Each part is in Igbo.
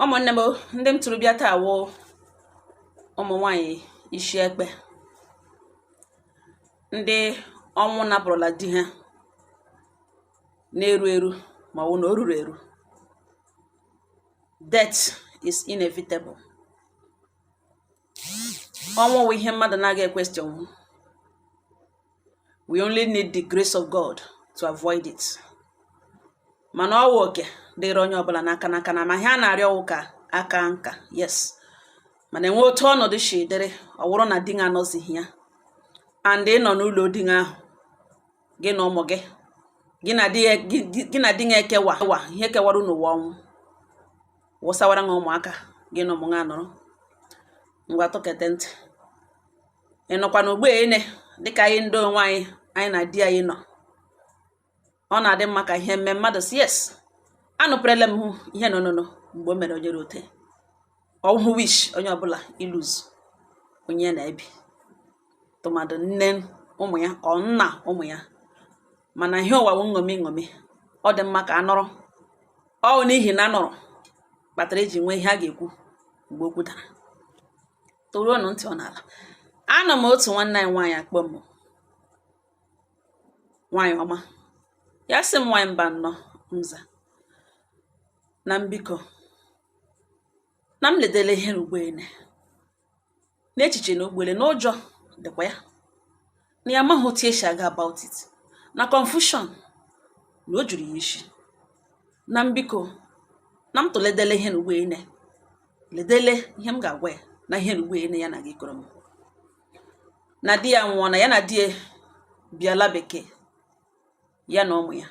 ụmụnne m ndị m tụrụ bịa taa wụ ụmụ nwanyị isi ekpe ndị ọnwụ napụrụla di ha na-eru eru ma ọ bụ na o ruru eru death is inevitable ọnwụ wụ ihe mmadụ na-aga equestion we only need the grace of God to avoid it mana ọwụ oke dịrị onye ọbụla n'aka n'aka ma ihe a na-arịọ wụ ka a kaa nka yes mana enwe otu ọnọdụ si dịrị ọwụrụ na di anọzighị ya and ị nọ n'ụlọ di ahụ gị na ụmụ gị gị na di ya ekewa ihe kewara unu wụ ọnwụ wụsawara ha ụmụaka gị na ụmụ ha nọrọ ngwa tụkete ntị ị nọkwa n'ugbo ene dịka anyị ndị onwe anyị anyị na di anyị nọ ọ na-adị mma ka ihe mme mmadụ si yes anụpụrụle m hụ ihe nọ nọ mgbe o mere onye rote ọ wụhụ wish onye ọbụla ilose onye ya na ya bi tụmadụ nne ụmụ ya ọ nna ụmụ ya mana ihe ụwa wụ nṅomi nṅomi ọ dị mma ka a nọrọ ọ bụ n'ihi na a nọrọ kpatara eji nwee ihe a ga-ekwu mgbe okwu dara toruonụ ntị ọ n'ala anọ m otu nwanne anyị nwaanyị akpọ m nwaanyị ọma ya sị m nwaanyị mba nnọọ m za na m biko na m ledele ihe ru ugbo ene n'echiche na ugbo ene na ụjọ dịkwa ya na ya amaghị otu esi aga about it na confusion na o juru ya isi na m biko na m tụledele ihe na ugbo ene ledele ihe m ga-agwa ya na ihe na ugbo ene ya na-aga ịkọrọ m na di ya nwụọ na ya na di ya bi ala bekee ya na ụmụ ya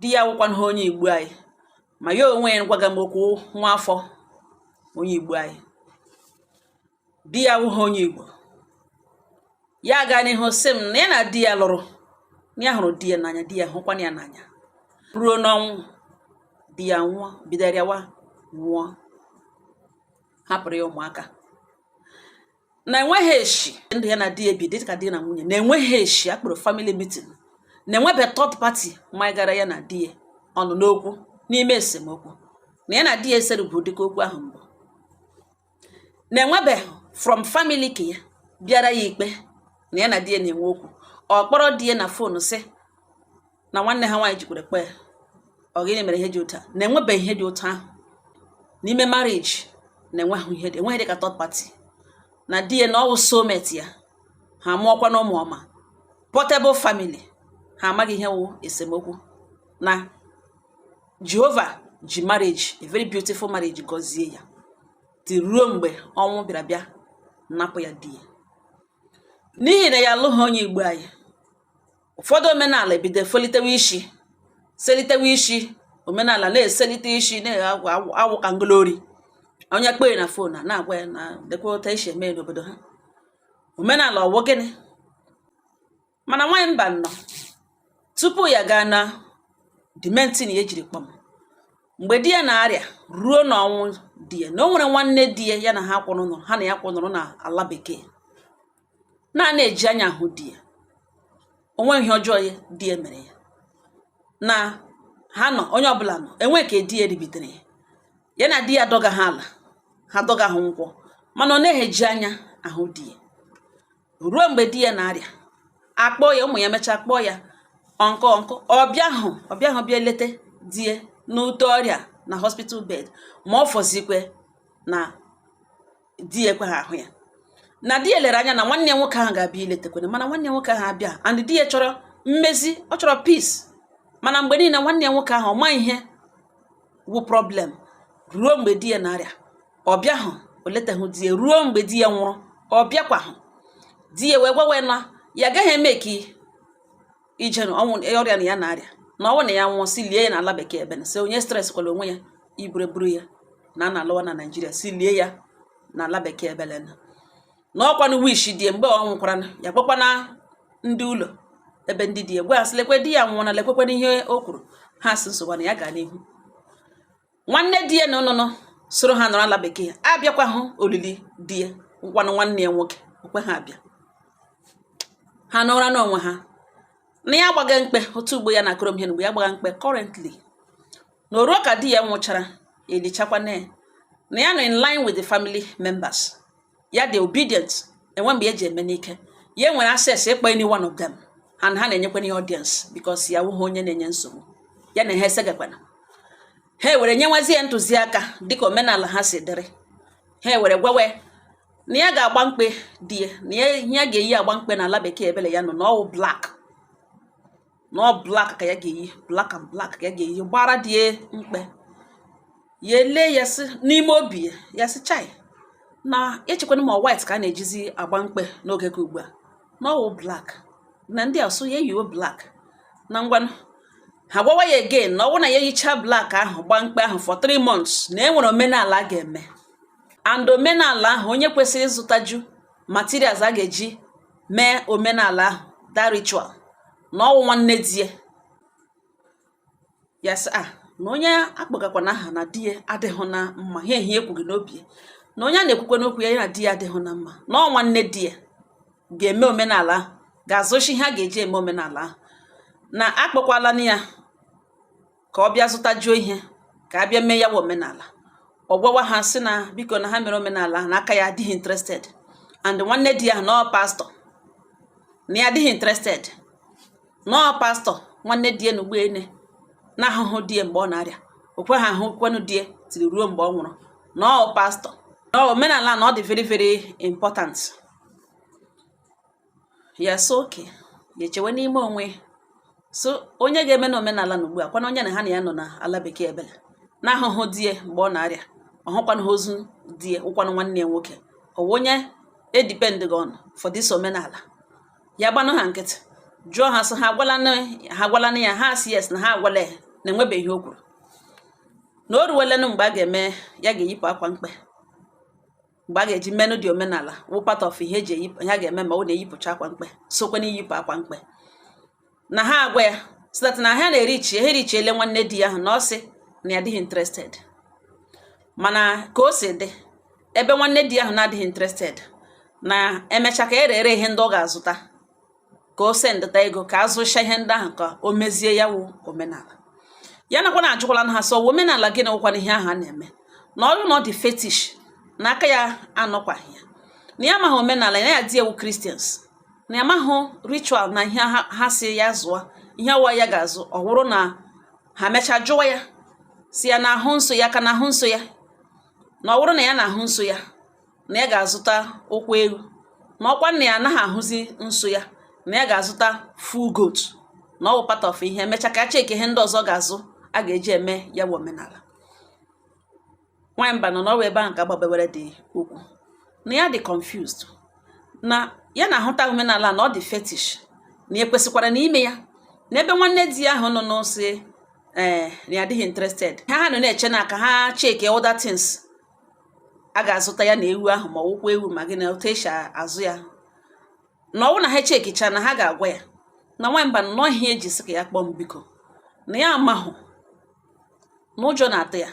di ya awụkwaha onye igbo anyị ma ya onwe ya gwaga m okwu nwa afọ onye igbo anyị di ya awụghị onye igbo ya gaa n'ihu sị m na ya na di ya lụrụ na ya hụrụ di ya n'anya di ya hụkwana ya n'anya ruo n'ọnwụ di ya nwụọ bido rịawa nwụọ hapụrụ ya ụmụaka na enweghị eshi ndụ ya na di ya bi dị ka di na nwunye na enweghị eshi a kpọrọ family meeting na enwebe third party magara ya na di ya ọnụ n'okwu n'ime esemokwu na ya na di ya esere bụ ụdịka okwu ahụ mbụ na enwebeghị from family ke ya bịara ya ikpe na ya na di ya na-enwe okwu ọ kpọrọ di ya na phone sị na nwanne ha nwaanyị jikwere kpee ọ gịnị mere ihe dị otu a na enwebeghị ihe dị otu ahụ n'ime marriage na-enweghị ihe dị enweghị dị ka third party na di ya na ọ wụ soulmate ya ha mụọkwa na ụmụ ọma portable family ha amaghị ihe wụ esemokwu na jehova ji marriage a very beautiful marriage gọzie ya ti ruo mgbe ọnwụ bịara bịa napụ ya di ya n'ihi na ya alụghị onye igbo anyị ụfọdụ omenala ebido efolitewe isi selitewe isi omenala na-eselite isi na-awụ ka ngolori onye kpee na fon a na-agwa ya na lekwa otu esi eme n'obodo ha omenala ọ wụ gịnị mana nwaanyị mba nọ tupu ya gaa na the main thing ya jiri kpọ m mgbe di ya na-arịa ruo n'ọnwụ di ya na o nwere nwanne di ya ya na ha kwụrụ nọrọ ha na ya kwụrụ nọrọ na ala bekee na anaghị eji anya ahụ di ya o nweghị ihe ọjọọ ya di ya mere ya na ha nọ onye ọbụla nọ enwe ka di ya ribitere ya ya na di ya dọga ha ala ha dọga ha nkwụ mana ọ naghị eji anya ahụ di ya ruo mgbe di ya na-arịa a kpọọ ya ụmụ ya mechaa kpọọ ya uncle uncle ọ bịahụ ọ bịahụ bịa leta di ya n'ute ọrịa na hospital bed ma ọ fọzikwe na di ya ekweghị ahụ ya na di ya lere anya na nwanne ya nwoke ahụ ga-abịa iletakwana mana nwanne ya nwoke ahụ abịa and di ya chọrọ mmezi ọ chọrọ peace mana mgbe niile nwanne ya nwoke ahụ ọ ma ihe wụ problem ruo mgbe di ya na-arịa ọ bịahụ o letaghị di ya ruo mgbe di ya nwụrụ ọ bịakwahụ di ya wee gwawe na ya agaghị emake ya na ọnwụ e, ọrịa na ya na-arịa na ọ wụ na ya nwụọ sị lie ya na ala bekee ebe na sị onye stresskwala onwe ya iburu eburu ya na a na-alawa na naijiria sị lie ya na ala bekee ebele na na ọ kwanụ wish di ya mgbe ọ nwụkwara ya kpọkwana ndị ụlọ ebe ndị di ya gwa ha sị lekwe di ya anwụọna lekwekwana ihe o kwuru ha sị nsogbu na ya gaa n'ihu nwanne di ya na ụnụnụ soro ha nọrọ ala bekee abịakwahụ olili di ya nkwanụ nwanne ya nwoke o kweha abịa ha nọrọ n'onwe ha na ya gbaga mkpe otu ugbo ya na-akọrọ m ihe mgbe ya gbaga mkpe currently na o ruo ka di ya nwụchara e lichakwana ya na ya nọ in line with the family members ya dị obedient enweghị mgbe ya ji eme n'ike ya nwere access ịkpọ any one of them and ha na-enyekwana ya audience because ya wụghị onye na-enye nsogbu ya na ha esegakwana ha ewere nyewazi ya ntụziaka dịka omenala ha si dịrị ha ewere gwawe na ya ga-agba mkpe di ya na ya ga-eyi akwa mkpe n'ala bekee ebele ya nọ na ọ wụ black na ọ black ka ya ga-eyi black and black ka ya ga-eyi gbara di ya mkpe ya ele ya sị n'ime obi ya ya sị chai na echekwana ma white ka a na-ejizi agba mkpe n'oge ka ugbu a na ọwụ black na ndị a sị ya yiwe black na ngwanụ ha gwawa ya again na ọwụ na ya yicha black ahụ gbaa mkpe ahụ for three months na e nwere omenala a ga-eme and omenala ahụ onye kwesịrị ịzụtaju materials a ga-eji mee omenala ahụ that ritual na ọwụ nwanne di ya ya sị a ah, na onye a kpọgakwanụ aha na di ya adịghị na mma ihe ehi ekwughị n'obi ya na onye a na-ekwukwanụ okwu ya ya na di ya adịghị na mma na ọ nwanne di ya ga-eme omenala ahụ ga-azụcha ihe a ga-eji eme omenala ahụ na a kpọkwalanụ ya ka ọ bịa zụtajuo ihe ka a bịa mee ya wụ omenala ọ gwawa ha sị na biko na ha mere omenala ahụ na aka ya adịghị interested and nwanne di ya na ọ pastor na ya adịghị interested na ọ pastor nwanne di ya na ugbu a onye na-ahụhụ di ya mgbe ọ na-arịa okwe ha ahụkwanụ di ya tiri ruo mgbe ọ nwụrụ na ọ pastor na omenala na ọ dị very very important ya sị okay ya echewe n'ime onwe so onye ga-emenụ omenala na ugbu a kwanụ onye na ha na ya nọ na ala bekee ebele na-ahụhụ di ya mgbe ọ na-arịa ọ hụkwanụ ozu di ya ọ kwanụ nwanne ya nwoke ọ wụ onye e depend ga on for this omenala ya gbanụ ha nkịtị jụọ ha sị ha agwalanụ ya ha sị yes na ha agwala ya na e nwebeghị ihe o kwuru na o ruwelenụ mgbe a ga-eme ya ga-eyipụ akwa mkpe mgbe a ga-eji menụ ụdị omenala wụ part of ihe e ji eyipụ ha ga-eme ma ọ na-eyipụcha akwa mkpe sokwa n'iyipụ akwa mkpe na ha agwa ya so that na ha na-ereach ha ereachiela nwanne di ahụ na ọ sị na ya adịghị interested mana ka o si dị ebe nwanne di ahụ na-adịghị interested na e mechaa ka e dere ihe ndị ọ ga-azụta ka o sendịta ego ka a zụcha ihe ndị ahụ ka o mezie ya wụ omenala ya nakwa na ajụkwalanụ ha sị omenala gịnị wụkwanụ ihe ahụ a na-eme na ọ wụrụ na ọ dị fetish na aka ya anọkwaghị ya na ya amaghị omenala ya na di ya wụ Christians na ya amaghị ritual na ihe ha sị ya zụọ ihe ọ wụ ya ga-azụ ọ wụrụ na ha mechaa jụwa ya sị ya na-ahụ nsọ ya ka na-ahụ nsọ ya na ọ wụrụ na ya na-ahụ nsọ ya na ya ga-azụta ụkwụ ewu na ọkwa na ya anaghị ahụzi nsọ ya na ya ga-azụta full goat na ọ bụ part of ihe e mechaa ka a checkie ihe ndị ọzọ ga-azụ a ga-eji eme ya bụ omenala nwaanyị mba nọ na ọ wụ ebe ahụ ka agbabewere dị okwu na ya dị confused na ya na-ahụta omenala na ọ dị fetish na e kwesịkwaranụ ime ya n'ebe nwanne di ya ahụ nọ na ọ sị ee eh, na ya adịghị interested ha ha nọ na-eche na ka ha checkie other things a ga-azụta ya na ewu ahụ ma ọ wụkwa ewu ma gị na otu esi azụ ya na ọwụ na ha chekicha na ha ga-agwa ya na nwaanyị mba na ọ ihe eji sị ka ya kpọọ m biko na ya amahụ na ụjọ na-atụ ya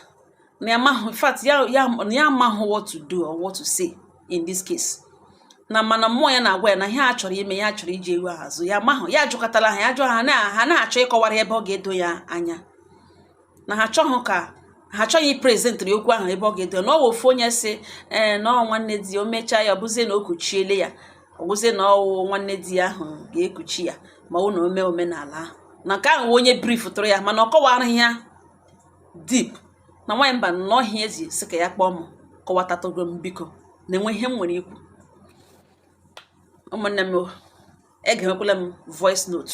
na ya amahụ in fact ya ya na ya amahụ what to do or what to say in this case na mana mmụọ ya na-agwa ya na ihe a chọrọ ime ya chọrọ iji ewu ahụ azụ ya amahụ ya ajụkatala ha ya jụọ ha na ha na-achọ ịkọwara ebe ọ ga-edo ya anya na ha achọghị iprezentịrị okwu ahụ ebe ọ ga-edo na ọ wụ ofu onye si ee eh, na ọ nwanne di o mechaa ya ọbụzie na o kuchiele ya ọwụzie na ọwụ nwanne di ya ahụ ga-ekuchi ya ma ọ na ome omenala ahụ na nke ahụ onye brief tụrụ ya mana ọ kọwaraghị ya deep na nwaanyị mba na ọ ihe eji sị ka ya kpọọ m kọwatatụgo m biko na enwe ihe m nwere ikwu ụmụnne m egemekwala m voice note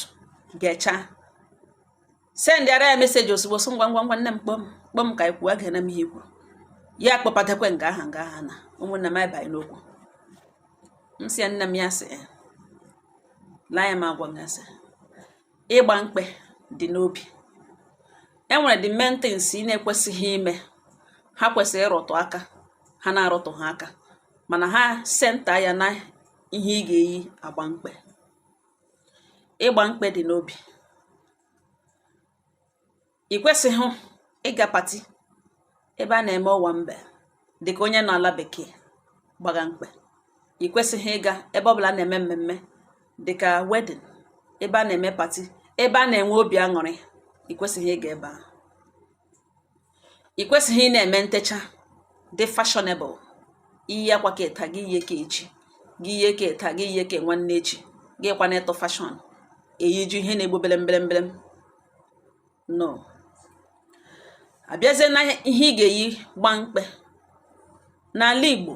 gechaa sendịara ya meseji ozugbo sị ngwa ngwa ngwa nne m kpọọ m kpọọ m ka anyị kwuo egena m ihe i kwu ya kpọbatakwa nga aha nga aha na ụmụnna m abaghị n'okwu m si ya nne m ya sị eh, ya m agwa ya sị ịgba mkpe dị n'obi e nwere the main things ị na-ekwesịghị ime ha kwesịrị ịrụtụ aka ha na-arụtụ ha aka mana ha senta ya na ihe ị ga-eyi agba mkpe ịgba mkpe dị n'obi ị kwesịghị ịga pati ebe a na-eme owambe dịka onye nọ ala bekee gbaga mkpe ị kwesịghị ịga ebe ọ bụla na-eme mmemme dịka wedding ebe a na-eme pati ebe a na-enwe obi aṅụrị ị kwesịghị ịga ebe ahụ ị kwesịghị ị na-eme ntecha dị fashionable iyi akwa ke taa gị iyie ke echi gị iyie ke taa gị iyie ke nwanne echi gị kwa na-eto fashion eyiju ihe na-egbu berem berem berem no abịazie na ihe ị ga-eyi gbaa mkpe N'ala Igbo,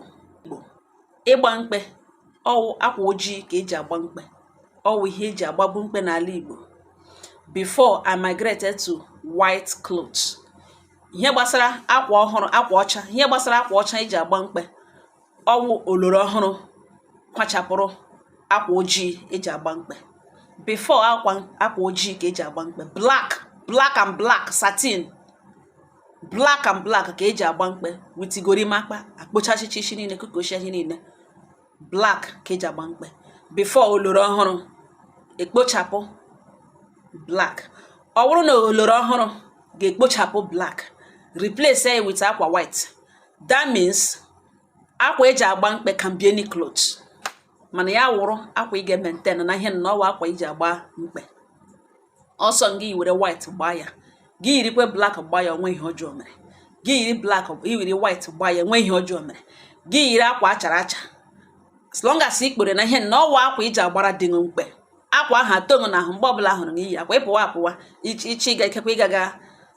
ịgba mkpe ọwụ akwa ojii ka eji agba mkpe. Ọwụ ihe eji agbabu mkpe n'ala Igbo. Before it migrated to white clothes. Ihe gbasara akwa ọhụrụ, akwa ọcha, ihe gbasara akwa ọcha eji agba mkpe. Ọwụ oloro ọhụrụ kwachapụrụ akwa ojii eji agba mkpe. Before akwa akwa ojii ka eji agba mkpe. Black, black and black, satin. black and black ka eji agba mkpe with gorimapa akpụchachicha isi niile kukochi ihe niile black ka eji agba mkpe before oloro ọhụrụ ekpochapụ black ọ wụrụ na oloro ọhụrụ ga-ekpochapụ black replace ya with akwa white that means akwa eji agba mkpe can be any cloth mana ya wụrụ akwa ị ga-maintain na ihe na ọwụ akwa i ji agba mkpe ọ sọ gị were white gbaa ya gị yirikwa black gbaa ya o nweghị ihe ọjọọ mere gị yiri black yiri white gbaa ya o nweghị ihe ọjọọ mere gị yiri akwa achara acha as long as ị kpere na ihe na ọ wụ akwa i ji agbara di mkpe akwa ahụ atọ gị na ahụ mgbe ọbụla hụrụ na iyi akwa ịpụwa apụwa ichi ịga ikekwa ịgaga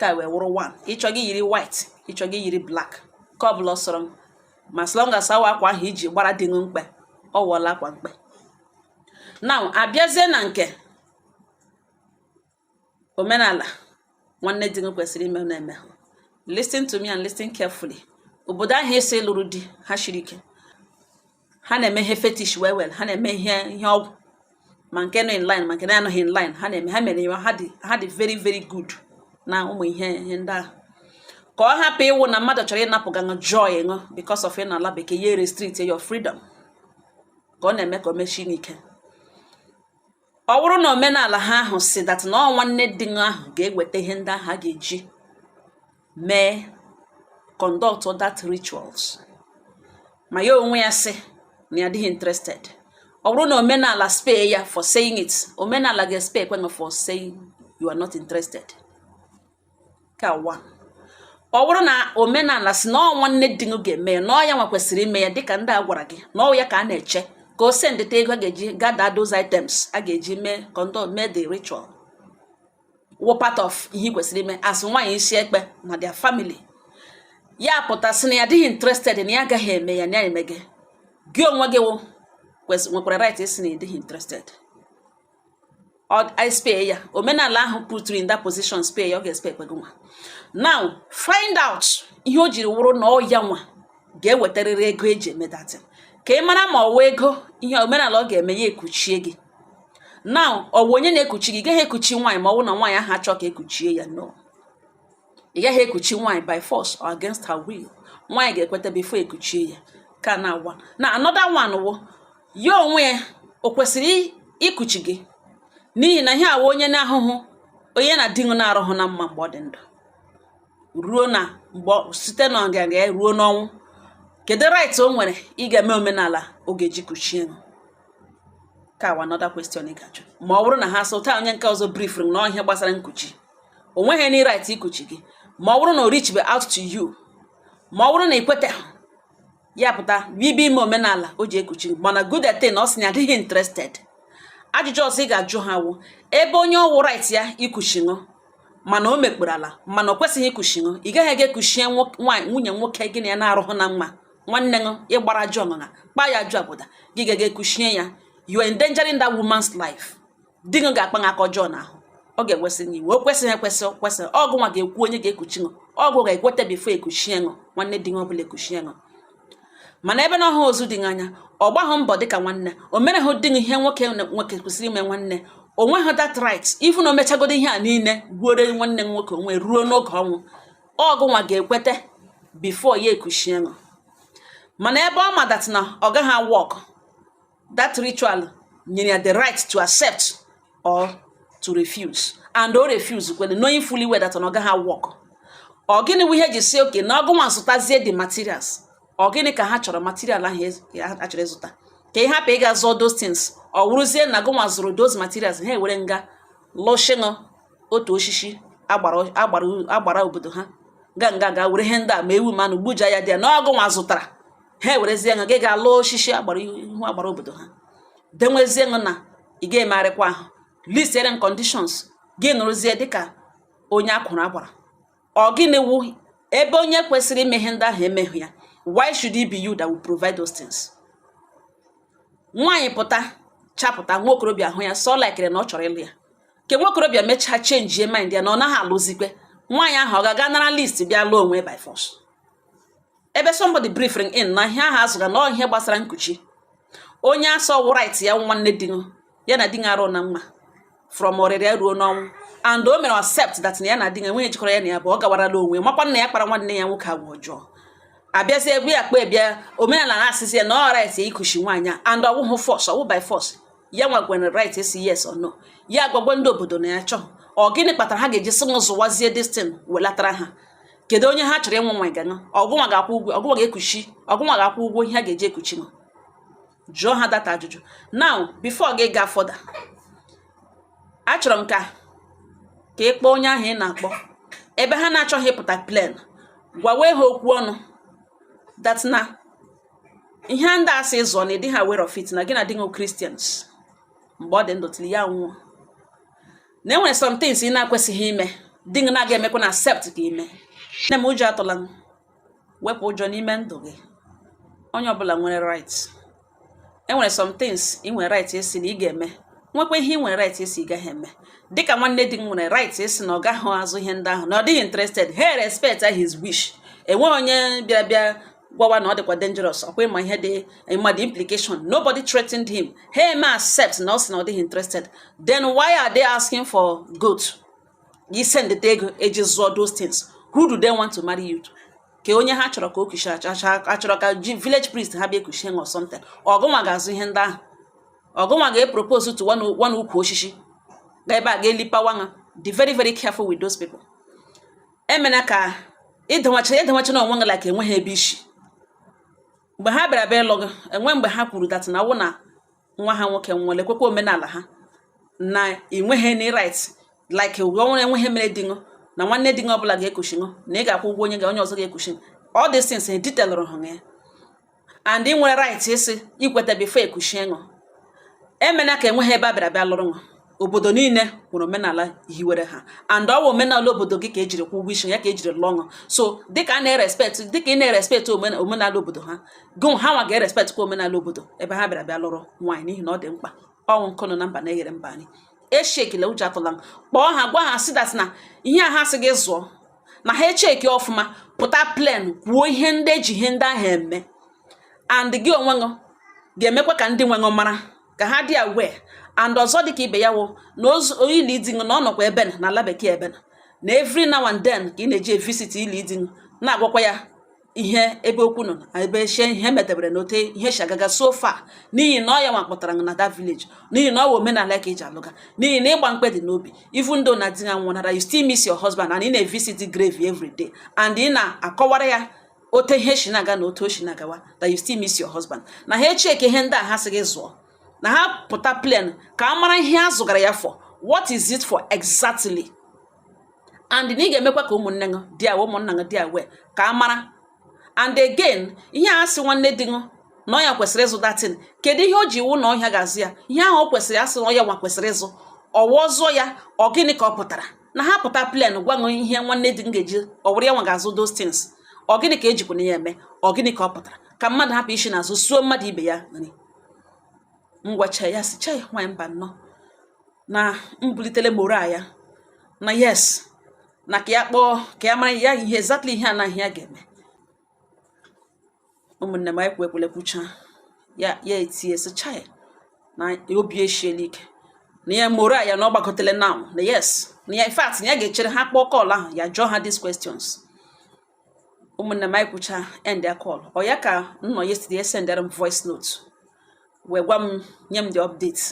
ka wee wụrụ one ị chọọ gị yiri white ị chọọ gị yiri black ke ọ bụla sọrọ ma as long as ọ wụ akwa ahụ i ji gbara di mkpe ọ wụọla akwa mkpe now abịazie na nke omenala nwanne di gị kwesịrị ime na-eme listen to me and listen carefully obodo ahụ i si lụrụ di ha shiri ike ha na-eme ihe fetish well well ha na-eme ihe ihe ọgwụ ma nke nọ in line ma nke na-anọghị in line ha na-eme ha mere ya ha dị ha dị very very good na ụmụ ihe ihe ndị ahụ ka ọ hapụ ịwụ na mmadụ chọrọ ịnapụga ṅụ joy ṅụ because of ịnọ ala bekee ya restrict your freedom ka ọ na-eme ka o mechie n'ike ọ bụrụ na omenala ha ahụ sị that na ọ nwanne di ahụ ga-eweta ihe ndị ahụ a ga-eji mee conduct that rituals ma ya onwe ya sị na ya adịghị interested ọ bụrụ na omenala spare ya for saying it omenala ga-espare kwa ṅụ for saying you are not interested kawa ọ bụrụ na omenala sị na ọ nwanne di gị ga-eme ya na ọ ya nwa kwesịrị ime ya dịka ndị a gwara gị na ọ ya ka a na-eche ka o sendịta ego a ga-eji gather those items a ga-eji mee conduct mee the ritual wụ part of ihe ị kwesịrị ime as nwaanyị isi ekpe na their family ya pụta sị na ya adịghị interested na ya agaghị eme ya na ya emeghị gị onwe gị nwekwara right ịsị na ị dịghị interested I spare ya omenala ahụ put in that position spare ya ọ ga-espare kwa gị nwa now find out ihe o jiri wụrụ na ọ ya nwa ga-ewetarịrị ego e ji eme that thing ka ị mara ma ọ wụ ego ihe omenala ọ ga-eme ya ekuchie gị now ọ wụ onye na-ekuchi gị gaghị ekuchi nwaanyị ma ọ bụ na nwaanyị ahụ achọ ka e kuchie ya no ị gaghị ekuchi nwaanyị by force or against her will nwaanyị ga-ekweta before e kuchie ya ka na awụ one another one wụ ya onwe ya o kwesịrị ikuchi gị n'ihi na ihe a wụ onye na-ahụhụ onye na di na-arụhụ na mma mgbe ọ dị ndụ ruo na mgbe site na ọganga ruo n'ọnwụ kedu right o nwere ịga eme omenala ọ ga-eji kuchie ṅụ ka a wụ another question ị ga-ajụ ma ọ bụrụ na ha sị ụta onye nke ọzọ briefuru m na ihe gbasara nkuchi o nweghị any right ikuchi gị ma ọ bụrụ na o reach be out to you ma ọ bụrụ na ị kwetaghị ya pụta bibi ime omenala o ji ekuchi gị mana good that ọ sị na ya adịghị interested ajụjụ ọzọ ị ga-ajụ ha wụ ebe onye ọ wụ right ya ikuchi ṅụ mana o mekpọrọ ala mana o kwesịghị ikuchi ṅụ ị gaghị aga ekuchie nwaanyị nwunye nwoke gị na ya na-arụhụ na mma nwanne ṅụ ị gbara ajụ ọṅụṅa kpaa ya ajụ abụda gị gaga ekuchie ya you are endangering that woman's life di gị ga-akpa gị aka ọjọọ n'ahụ ọ ga-ekwesị gị iwe o kwesịghị ekwesị o kwesịrị ọ gụnwa ga-ekwu onye ga-ekuchi ṅụ ọ gụ ga-ekweta before ekuchie ṅụ nwanne di gị ọ bụla ekuchie ṅụ mana ebe na ọ hụ ozu di gị anya ọ gbaghị mbọ dịka nwanne o merehụ di gị ihe nwoke na- nwoke kwesịrị ime nwanne o nweghị that right even o mechagodo ihe a niile gbuoro nwanne m nwoke onwe ruo n'oge ọnwụ ọ gụnwa ga-ekweta before ya ekuchie ṅụ mana ebe ọ ma that na ọ gaghị awork that ritual nyere ya the right to accept or to refuse and o refuse kwere knowing fully well that ọ gaghị awork ọ gịnị wụ ihe e ji sị okay na ọ gụnwa zụtazie the materials ọ gịnị ka ha chọrọ material ahụ e a chọrọ ịzụta ka ị hapụ ịga zụọ those things ọ wụrụzie na gụnwa zụrụ those materials ha ewere ṅụ ga lụshị ṅụ otu oshishi agbara obodo ha ga nga ga were ihe ndị a ma ewu manụ gbuja ya dị ya na ọ gụnwa zụtara ha ewerezie ṅụ gị ga lụọ osisi agbara ihu agbara obodo ha denwezie ṅụ na ị ga-emegharịkwa ahụ listiere conditions gị nọrọzie dịka onye a kwụrụ agbara ọ gịnị wụ ebe onye kwesịrị ime ihe ndị ahụ emeghị ya why should it be you that will provide those things nwaanyị pụta chapụta nwa okorobịa ahụ ya so likere na ọ chọrọ ịlụ ya ke nwa okorobịa mechaa changie mind ya na ọ naghị alụzikwe nwaanyị ahụ ọ ga-aga nara list bịa lụọ onwe by force ebe somebody briefing in na ihe ahụ a zụga na ihe gbasara nkuchi onye a sị ọ wụ right ya nwanne di ya na di ya arụ na mma from ọrịrịa ruo n'ọnwụ and o mere accept that na ya na di ya enweghị ihe jikọrọ ya na ya bụ ọ gawarala onwe makwa na ya kpara nwanne ya nwoke agwa ọjọọ a bịazi egwu ya kpa ebịa omenala na-asịzi ya na ọ right ya ikuchi nwaanyị and ọ wụhụ force ọ wụ by force ya nwa nwere right ịsị yes or no ya agwagwa ndị obodo na ya chọọ ọ gịnị kpatara ha ga-eji sị m zụwazie this thing welatara ha kedu onye ha chọrọ ịnwụ nwa ga nọ ọ gụnwa ga-akwụ ụgwọ ọ gụnwa ga-ekuchi ọ gụnwa ga-akwụ ụgwọ ihe ha ga-eji ekuchi ṅụ jụọ ha that ajụjụ now before gị gaa further achọrọ m ka ka ị kpọọ onye ahụ ị na-akpọ ebe ha na-achọghị ịpụta plain gwawe ha okwu ọnụ that na ihe ndị a sị zụọ na ị dịha aware of it na gị na di Christians mgbe ọ dị ndụ till ya nwụọ na e nwere some things ị na-akwesịghị ime di gị na-aga emekwanụ accept ka i mee nne m ụjọ atụla ṅụ wepụ ụjọ n'ime ndụ gị onye ọbụla nwere right e nwere some things ị nwere right ịsị na ị ga-eme nwekwa ihe ị nwere right ịsị ị gaghị eme dịka nwanne di gị nwere right ịsị na ọ gaghị azụ ihe ndị ahụ na ọ dịghị interested he respect his wish enweghị onye bịara bịa gwawa na ọ dịkwa dangerous ọkwa ịma ihe dị ịma the implication nobody threatened him ha eme accept na ọ sị na ọ dịghị interested then why are they asking for goat ị send the ego eji zụọ those things who do they want to marry you to kee onye ha chọrọ ka o kuchie achọrọ ka ji village priest ha bịa ekuchie ṅụ or something ọgụnwa ga-azụ ihe ndị ahụ ọgụnwa ga-epropose to one ukwu osisi ga ebe a ga-elipawa ha be very very careful with those people emena ka ịdawacha ịdawacha na onwe gị like enweghị ebe i si mgbe ha bịara bịa ịlụ gị enwe mgbe ha kwuru that na wụ na nwa ha nwoke nwere ekwekwa omenala ha na ịnweghị any right like ụgwọ ọ wụrụ enwe ihe mere di ṅụ na nwanne di ṅụ ọbụla ga-ekuchi ṅụ na ị ga-akwụ ụgwọ onye ga onye ọzọ ga-ekuchi all these things detailụrụ ha ya and ị nwere right ịsị ikweta before ekushi ṅụ emena ka enweghị ebe a bịara bịa lụrụ ṅụ obodo niile nwere omenala hiwere ha and ọ wụ omenala obodo gị ka ejiri kwụ ụgwọ isi ya ka ejiri lụọ ṅụ so dịka a na-erespect dịka ị na-erespect omenala obodo ha gụ ha nwa ga-erespect kwa omenala obodo ebe ha bịara bịa lụrụ nwaanyị n'ihi na ọ dị mkpa ọ wụ nkụ nọ na mba na-eghere mba nri eshekile ụjọ atụla kpọọ ha gwa ha sị that na ihe a ha sị gị zụọ na ha echeki ọfụma pụta plain kwuo ihe ndị eji ihe ndị ahụ eme and gị onwe gị ga-emekwa ka ndị nwe gị mara ka ha dị aware and ọzọ dịka ibe ya wụ na ili di ṅụ na ọ nọkwa ebe na ala bekee ebe na every now and then ka ị na-eji evisit ili di na-agwakwa ya ihe ebe okwu nọ na ebe echie ihe metebere na ote ihe si agaga so far n'ihi na ọ ya nwa kpọtara na that village n'ihi na ọ wụ omenala ka eji alụga n'ihi na ịgba mkpe dị n'obi even though na di ya nwụnara you still miss your husband and ị na-evisit the grave every day and ị na-akọwara ya ote ihe si na-aga na otu o si na-agawa that you still miss your husband na ha echeke ihe ndị a ha sị gị zụọ na ha pụta plain ka a mara ihe a zụgara ya for what is it for exactly and na ị ga-emekwa ka ụmụnne gị dị aware ụmụnna gị dị aware ka a mara and again ihe a sị nwanne di gị na ọ ya kwesịrị ịzụ that thing kedu ihe o ji wụ na ọ ya ga-azụ ya ihe ahụ o kwesịrị asị na ọ ya nwa kwesịrị ịzụ ọ wụ a zụọ ya ọ gịnị ka ọ pụtara na ha pụta plain gwa gị ihe nwanne di gị ga-eji ọ wụrụ ya nwa ga-azụ those things ọ gịnị ka ejikwana ya eme ọ gịnị ka ọ pụtara ka mmadụ hapụ isi n'azụ suo mmadụ ibe ya nri m gwacha ya sị chai nwaanyị mba nnọọ na m bulitele morale ya na yes na ka ya kpọọ ka ya mara ya ihe exactly ihe anaghị ya ga-eme ụmụnne m anyị kwu ekwele kwucha ya ya etie sị chai na obi eshiela ike na ya morale ya na ọ gbakọtele now na yes na ya in fact na ya ga-echere ha kpọọ call ahụ ya jụọ ha these questions ụmụnne m anyị kwucha endịa call ọ ya ka m nọ yesterday esendere m voice note wee gwa m nye m the update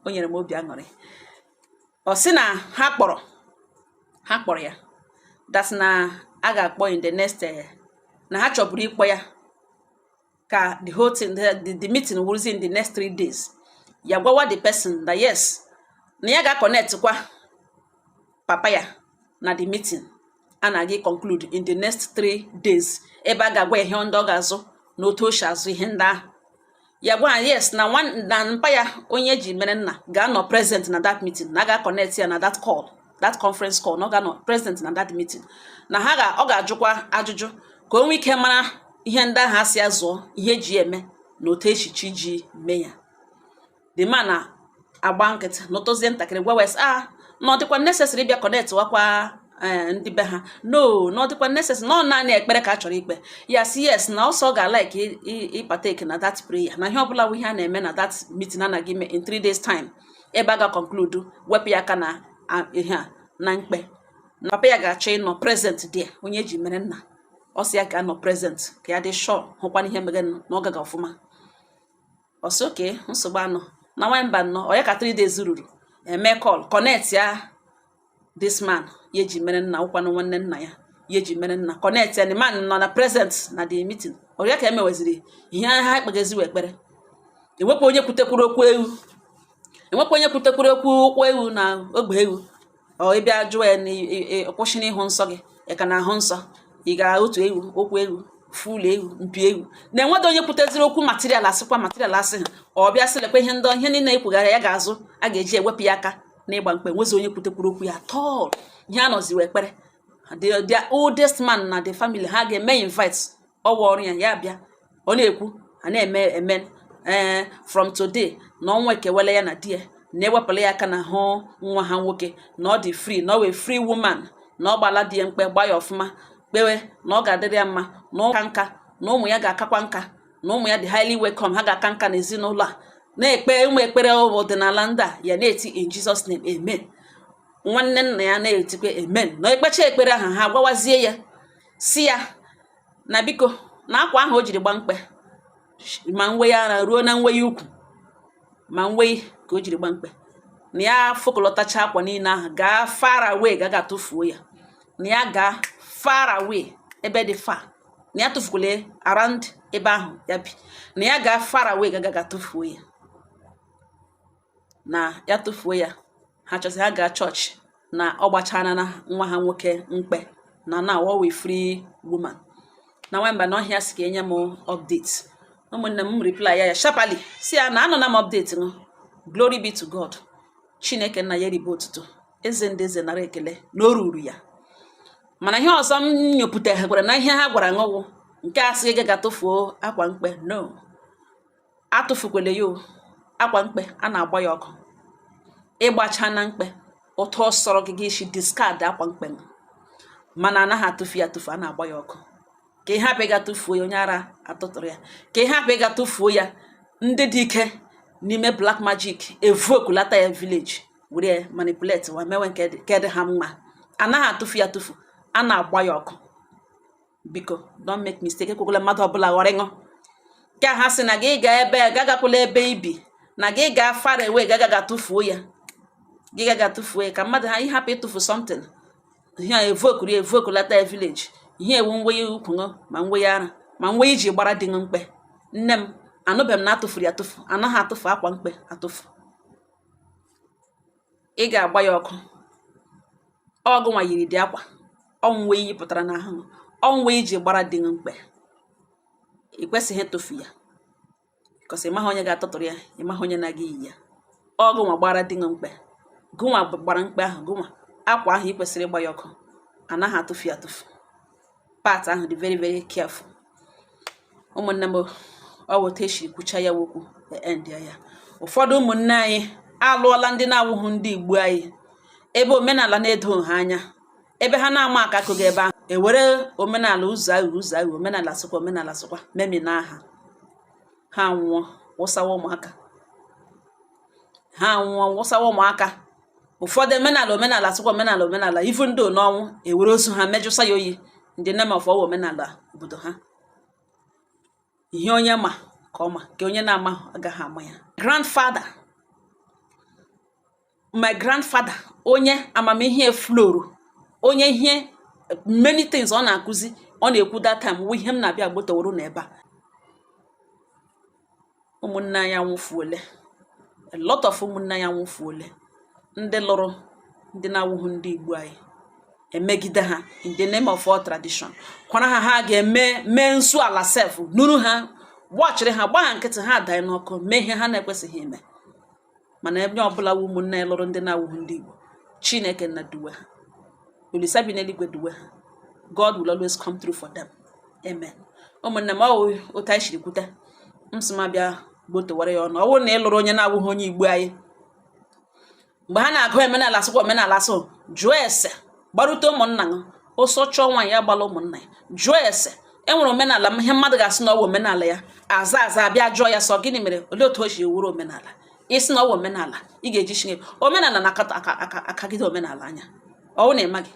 o nyere m obi aṅụrị ọ sị na ha kpọrọ ha kpọrọ ya that's na a ga-akpọ in the next eh, na ha chọburu ịkpọ ya ka the whole thing the, the, the meeting wụrụzi in the next three days ya gwawa the person that yes na ya ga-connect kwa papa ya na the meeting a na-aga conclude in the next three days ebe a ga-agwa ihe ndị ọ ga-azụ na otu o si azụ ihe ndị ahụ ya gwa ya sị na na mpa ya onye eji mere nna ga-anọ present na that meeting na a ga-connect ya na that call that conference call na ọ ga-anọ present na that meeting na ha ga ọ ga-ajụkwa ajụjụ ka o nwee ike mara ihe ndị ahụ a sị zụọ ihe eji ya eme na otu e si chọọ iji mee ya the man agba nkịtị nọtụzie ntakịrị gwawa ya sị ah na ọ dịkwa necessary bịa connect wakwa eh, ndị be ha no na ọ dịkwa necessary na ọ naanị ekpere ka a chọrọ ikpe ya sị yes na also ọ ga-alike ịpartake na that prayer na ihe ọbụla bụ ihe a na-eme na that meeting a na-aga ime in three days time ebe a ga-conclude wepụ ya aka na ihe a na mkpe na papa ya ga-achọ ịnọ present there onye eji mere nna ọ sị ya ga-anọ present ka ya dị sure hụkwa na ihe e mere na ọ gaga ọfụma ọ sị okay nsogbu anọ na nwanyị mba nnọọ ọ ya ka 3 days ruru e mee call connectịa this man ya eji mere nna wụkwanụ nwanne nna ya ya eji mere nna connect ya the man nọ na present na the meeting ọ ya ka emeweziri ihe ha ekpegaziwe ekpere enwekwa onye kwutekwuru okwu ewu enwekwa onye kwutekwuru okwu ụkwụ ewu na ogbe ewu ọ ịbịa jụọ ya na kwụsị n'ịhụ nsọ gị ị ka na-ahụ nsọ ị ga otu ewu ụkwụ ewu full ewu mpi ewu na enwedị onye kwuteziri okwu material asịkwa material asị ha ọ bịa sị lekwa ihe ndị ihe niile ekwugara ya ga-azụ a ga-eji ewepụ ya aka n'ịgba mkpe enwezi onye kwutekwuru okwu ya at all ihe a nọzi wụ ekpere the oldest man na the family ha ga-eme invite ọwa ọrụ ya ya bịa ọ na-ekwu a na-eme eme ee eh, from today na ọnwụ ekewela ya na di ya na ewepụla ya aka n'ahụ nwa ha nwoke na ọ dị free na ọ wụ a free woman na ọ gbaala di ya mkpe gba ya ọfụma kpewe na ọ ga-adịrị ya mma na ọ kaa nka na ụmụ ya ga-akakwa nka na ụmụ ya dị highly welcome ha ga-aka nka n'ezinụlọ a na-ekpe ụmụ ekpere ọdịnala ndị a ya na-eti in Jesus name amen nwanne nna ya na-etikwa amen na ekpecha ekpere ahụ ha gwawazie ya sị ya na biko na akwa ahụ o jiri gba mkpe ma nwe ya ara ruo na nwe ya ukwu ma nwe ka o jiri gba mkpe na ya fokọlọtacha akwa niile ahụ gaa far away ga gaa tụfuo ya na ya gaa far away ebe dị far na ya atụfukwala around ebe ahụ ya bi na ya gaa far away ga ga gaa tụfuo ya na ya tụfuo ya ha chọzi ha gaa chọọchị na ọ gbachaana nwa ha nwoke mkpe na na ọ wụ free woman na nwamba na ọhịa si ka enye m update ụmụnne m reply ya sharply sị ya na anụna m update nụ glory be to god chineke nna ya ribe otuto eze ndị eze nara ekele na o ruru ya mana ihe ọzọ m nyopụtakwara na ihe ha gwara ṅụ wụ nke a sị gị ga tụfuo akwa mkpe no atụfukwele ya o akwa mkpe a na-agba ya ọkụ ị gbachaana mkpe otu ọ sọrọ gị gị isi discard akwa mkpe mana anaghị atụfu ya atụfu a na-agba ya ọkụ ka ị hapụ ịga tụfuo ya onye ara atụtụrụ ya ka ị hapụ ịga tụfuo ya ndị dị ike n'ime black magic evokulata ya village were manipulate wa mewe nke dị ha mma anaghị atụfu ya atụfu a na-agba ya ọkụ biko don't make mistake ekwekwala mmadụ ọbụla ghọrọ ṅụ ka ha sị na gị ga ebe agakwala ebe i bi na gị ga far away gaga tụfuo ya gị gaga tụfuo ya ka mmadụ hapụ ịtụfu something ihe evokuru evokulata village ihe wụ nwe ya ukwu ṅụ ma nwe ya ara ma nwe i ji gbara di ṅụ mkpe nne m anụbeghị m na atụfuru ya atụfu anaghị atụfu akwa mkpe atụfu ị ga-agba ya ọkụ ọ gụnwa yiri dị akwa ọ nwe i yipụtara n'ahụ ọ nwe i ji gbara di mkpe ị kwesịghị ịtụfu ya cos ị maghị onye ga-atụtụrụ ya ị maghị onye na-aga iyi ya ọ gụnwa gbara di mkpe gụnwa gbara mkpe ahụ gụnwa akwa ahụ ị kwesịrị ịgba ya ọkụ anaghị atụfu ya atụfu part ahụ dị very very careful ụmụnne m ọ wụ otu esi kwucha ya okwu end ya ụfọdụ ụmụnne anyị alụọla ndị na-awụghị ndị igbo anyị ebe omenala na-edo ha anya ebe ha na-ama aka akụghị ebe ahụ ewere omenala ụzọ ahụ ụzọ ahụ omenala sịkwa omenala sịkwa memina ha ha nwụọ wụsawa ụmụaka ha nwụọ wụsawa ụmụaka ụfọdụ omenala omenala sịkwa omenala omenala even though n'ọnwụ ewere ozu ha mejụsa ya oyi in the name of ọ wụ omenala obodo ha ihe onye ma ka ọ ma nke onye na-ama agaghị ama ya grandfather my grandfather onye amamihe floro onye ihe many things ọ na-akụzi ọ na-ekwu that time wụ ihe m na-abịa gbotoworo n'ebe a ụmụnne anyị anwụfuole a lot of ụmụnne anyị anwụfuole ndị lụrụ ndị na-awụghị ndị Igbo anyị emegide ha in the name of all tradition gwara ha ha ga-eme mee nsọ ala sef nọrọ ha gbachiri ha gbaa nkịtị ha adaa n'ọkụ mee ihe ha na-ekwesịghị ime mana onye ọbụla wụ ụmụnna anyị lụrụ ndị na-awụghị ndị Igbo Chineke nna duwe ha Olisa bi n'eluigwe duwe ha God will always come through for them amen ụmụnne m ọ wụ otu anyị siri kwute m sị m bịa gbotowara ya unu ọ wụ na ị lụrụ onye na-awụghị onye Igbo anyị mgbe ha na-agwa gị omenala sịkwa omenala sị jụọ ese gbarute ụmụnna gị ọsọ chọọ nwaanyị ya gbala ụmụnna ya jụọ ese enwere omenala ihe mmadụ ga-asị na ọ wụ omenala ya aza aza a bịa jụọ ya sị ọ gịnị mere olee otu o ji wụrụ omenala ị sị na ọ wụ omenala ị ga-eji chineke omenala na-akata akagide omenala anya ọ wụ na ị maghị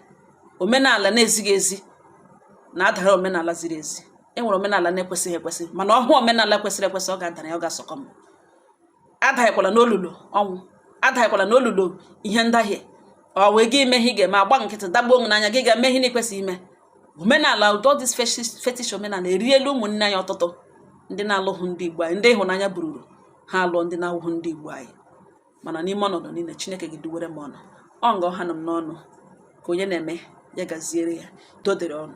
omenala na-ezighị ezi na-adara omenala ziri ezi enwere omenala na-ekwesịghị ekwesị mana ọ hụ omenala kwesịrị ekwesị ọ ga-adara ya ọ ga-asọkọ m adaghịkwala n'olulu ọnwụ adaghịkwala n'olulu ihe ndahie ọ wee gị ime ihe ị ga-eme agba nkịtị daba n'ịhụnanya gị ga-eme ihe na-ekwesịghị ime omenala all this fetish omenala eriela ụmụnne anyị ọtụtụ ndị na-alụghụ ndị igbo anyị ndị ịhụnanya bururu ha alụọ ndị na-awụghụ ndị igbo anyị mana n'ime ọnọdụ niile chineke ga-eduwere m unu ọ nga ọ hanụ m n'ọnụ ka onye na-eme ya gaziere ya dodere ọnụ